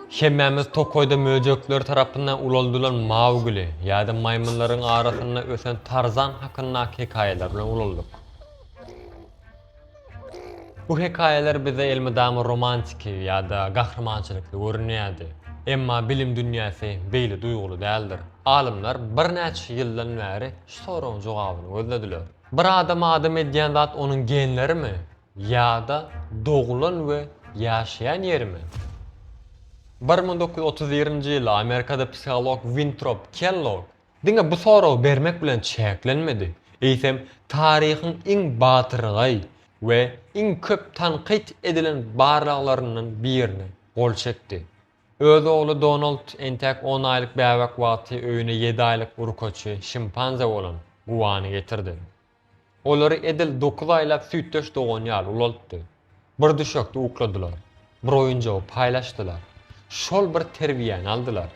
Hemmämiz tokaýda möjekler tarapyndan ulaldylan Maugli ýa-da maýmynlaryň arasynda ösen Tarzan hakyndaky hekaýalar bilen ulaldyk. Bu hekaýalar bize elmydama romantiki ýa-da gahrymançylykly görünýärdi. Emma bilim dünýäsi beýle duýguly däldir. Alymlar birnäçe ýyldan bäri şu soragyň jogabyny gözlediler. Bir adam adam edýän zat onuň genlerimi? Ýa-da doglan we ýaşaýan ýerimi? Bir müň dokuz ýüz otuz birinji ýyly Amerikada psiholog Wintrop Kellog diňe bu soragy bermek bilen çäklenmedi, eýsem, taryhyň iň batyrgaý we iň köp tankyt edilen barlaglaryndan birine gol çekdi. Öz ogly Donald entäk on aýlyk bäbek wagty öýüne ýedi aýlyk urkaçy şimpanze bolan Guany getirdi. Olary edil dokuz aýlap süýtdeş dogan ýaly ulaltdy. Bir düşekde ukladylar. Bir oýunjagy paýlaşdylar. Şol bir terbiýäni aldylar.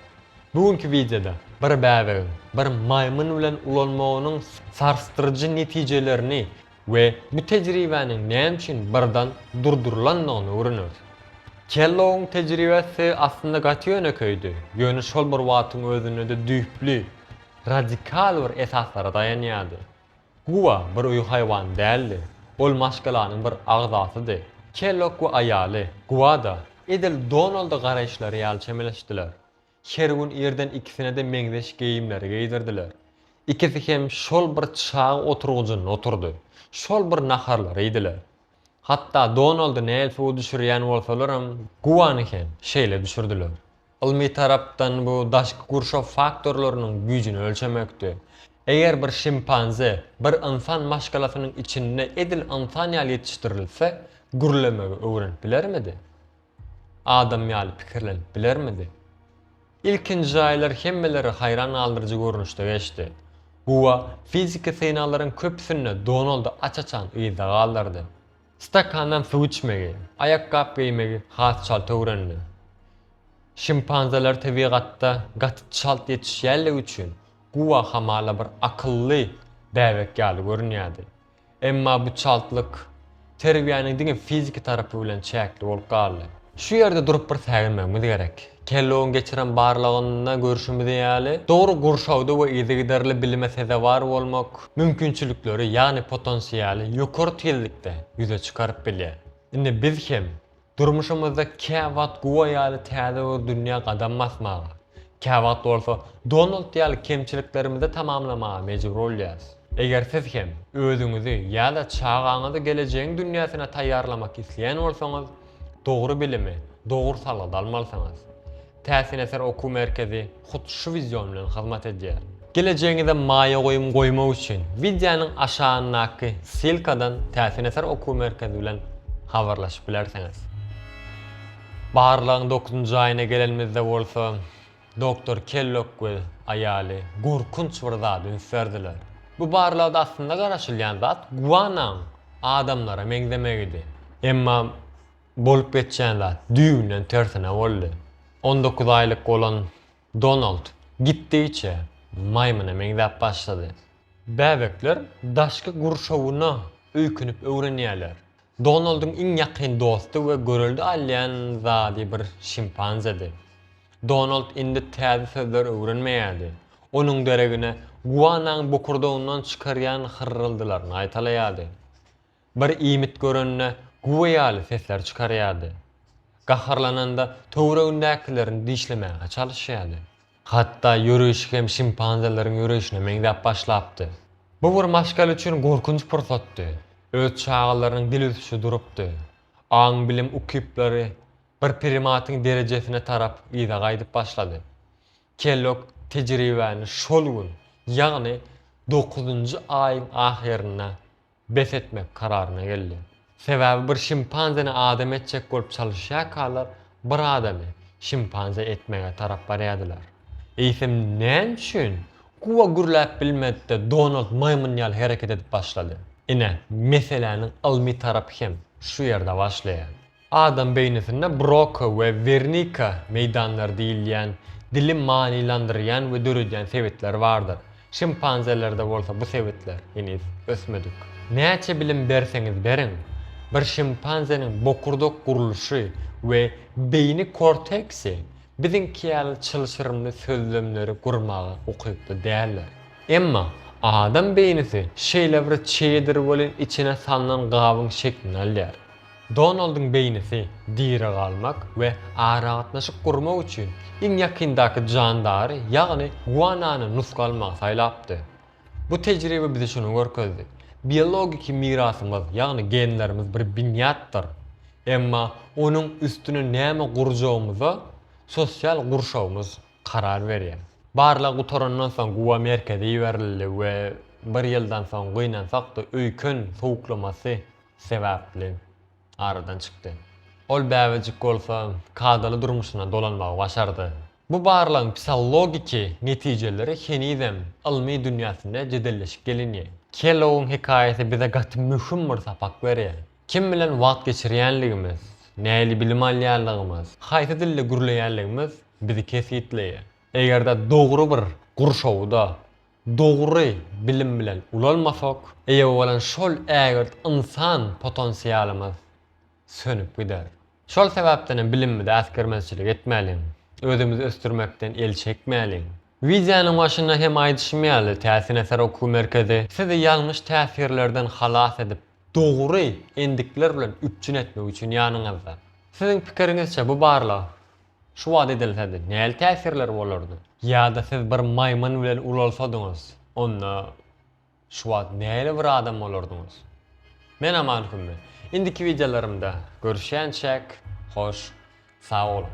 Bu günki wideoda bir bäbegiň bir maýmyn bilen ulanmagynyň sarsdyryjy netijelerini we bu tejribäniň näme üçin birden durdurylandygyny öwreneris. Kellogyň tejribesi aslynda gaty ýönekeýdi, ýöne şol bir wagtyň özünde-de düýpli. radikal bir esaslara daýanýardy. Guwa bir öý haýwany däldi, ol maşgalanyň bir agzasydy. Kellogg we aýaly, Guwa-da, edil Donalda garaýyşlary ýaly çemeleşdiler. Her gün irden ikisine-de meňzeş geýimleri geýdirdiler. Ikisi hem şol bir çaý oturgyjynda oturdy, şol bir naharlary iýdiler. Hatda Donaldy näl suwa düşürýän bolsalaram, Guany hem şeýle düşürdiler. Ylmy tarapdan bu daşky gurşaw faktorlarynyň güýjüni ölçemekdi. Eger bir şimpanze bir ynsan maşgalasynyň içinde edil ynsan ýaly ýetişdirilse, gürlemegi öwrenip bilermidi? adam ýaly pikirlenip bilermidi? Ilkinji aýlar hemmeleri haýran galdyryjy görnüşde geçdi. Guba fiziki synaglaryň köpüsinde Donaldy aç-açan yzda galdyrdy. Stakandan suw içmegi, aýakgap geýmegi has çalt öwrendi. Şimpanzeler tebigatda gaty çalt ýetişýänligi üçin Guba hamala bir akylly bäbek ýaly görünýärdi. Emma bu çaltlyk terbiýäniň diňe fiziki tarapy bilen çäkli bolup galdy. Şu ýerde durup bir säginmegimiz gerek. Kellogyň geçiren barlagynda görşümiz ýaly, dogry gurşawda we yzygiderli bilime sezewar bolmak mümkinçilikleri, ýagny potensialy ýokary tizlikde ýüze çykaryp bilýär. Indi biz hem Durmuşymyzda käwagt Guo ýaly täze bir dünýä gadam basmaga, käwagt bolsa Donald ýaly kemçiliklerimizi tamamlamaga mejbur bolýarys. Eger siz hem özüňizi ýa-da çagaňyzy gelejegiň dünýäsine taýýarlamak isleýän bolsaňyz, dogry bilimi, dogry salgysy almalysyňyz. Täsin eser okuw merkezi hut şu wideon bilen hyzmat edýär. Gelejegiňize maýa goýum goýmak üçin wideonyň aşagyndaky ssylkadan Täsin eser okuw merkezi bilen habarlaşyp bilersiňiz. Barlagyň dokuzynjy aýyna gelenimizde bolsa, doktor Kellok we aýaly gorkunç bir zady üns berdiler. Bu barlagda aslynda garaşylýan zat guanaň adamlara meňzemegidi. Emma Bolup geçýän zat düýbünden tersine boldy. On dokuz aýlyk bolan Donald gitdigiçe maýmyna meňzäp başlady. Bäbekler daşky gurşawyna öýkünip öwrenýärler. Donaldyň iň ýakyn dosty we görelde alýan zady bir şimpanzedi. Donald indi täze sözler öwrenmeýärdi. Onuň deregine guanaň bokurdagyndan çykarýan hyrryldylaryny gaýtalaýardy. Bir iýmit görende güwä ýaly sesler çykarýardy. Gaharlananda töweregindäkilerini dişlemäge çalyşýardy. Hatda ýöreýşi hem şimpanzeleriň ýöreýşine meňzäp başlapdy. Bu bir maşgala üçin gorkunç pursatdy. Öz çagalarynyň dil ösüşi durupdy. Aň-bilim ukyplary bir primatyň derejesine tarap yza gaýdyp başlady. Kellogg tejribäni şol gün, ýagny dokuzynjy aýyň ahyrynda bes etmek kararyna geldi. Sebäbi bir şimpanzeni adam etjek bolup çalyşýarkalar bir adamy şimpanze etmäge tarap barýardylar. Eýsem näme üçin Kuba gürläp bilmedi-de Donald maýmyn ýaly hereket edip başlady? Ine, meseläniň ylmy tarapy hem şu ýerde başlaýar. Adam beýnisinde Broka we Wernika meýdanlary diýilýän dili manylandyrýan we döredýän sebitler bardyr. Şimpanzelerde bolsa bu sebitler heniz ösmedik. Näçe bilim berseňiz beriň, bir şimpanzeniň bokurdak gurluşy we beýni korteksi biziňki ýaly çylşyrymly sözlemleri gurmaga ukykly däldir. Emma adam beýnisi şeýlebir çeýedir welin içine salnan gabyň şeklini alýar. Donaldyň beýnisi diri galmak we aragatnaşyk gurmak üçin iň ýakyndaky jandary, ýagny guanany nusga almagy saýlapdy. Bu tejribe bize şuny görkezdi, biologiki mirasymyz, ýagny genlerimiz bir binýatdyr. Emma onuň üstüne näme gurjagymyza sosial gurşawymyz karar berýär. Barlag gutarandan soň gua merkeze iberildi we bir ýyldan soň gynansak-da öýken sowuklamasy sebäpli aradan çykdy. Ol bäbejik bolsa kadaly durmuşyna dolanmagy başardy. Bu barlagyň psihologiki netijeleri henizem ylmy dünýäsinde jedelleşip gelinýär. Kellogyň hekaýasy bize gaty möhüm bir sapak berýär. Kim bilen wagt geçirýänligimiz, nähili bilim alýanlygymyz, haýsy dilde gürleýänligimiz bizi kesgitleýär. Eger-de dogry bir gurşawda. dogry bilim bilen ulalmasak, eýe bolan şol ägirt ynsan potensialymyz sönüp gider. Şol sebäpdenem bilimimize äsgermezçilik etmäliň, özümizi ösdürmekden el çekmäliň. Wideonyň başynda hem aýdyşym ýaly, Täsin eser okuw merkezi sizi ýalňyş täsirlerden halas edip, dogry endikler bilen üpjün etmek üçin ýanyňyzda. Siziň pikiriňizçe bu barlag Şu wagt edilsedi, näli täsirleri bolardy? Ýa-da siz bir maýmyn bilen ulalsadyňyz, onda şu wagt näli bir adam bolardyňyz? Men Aman Hümmi. Indiki wideolarymda görüşýänçäk, hoş sag boluň!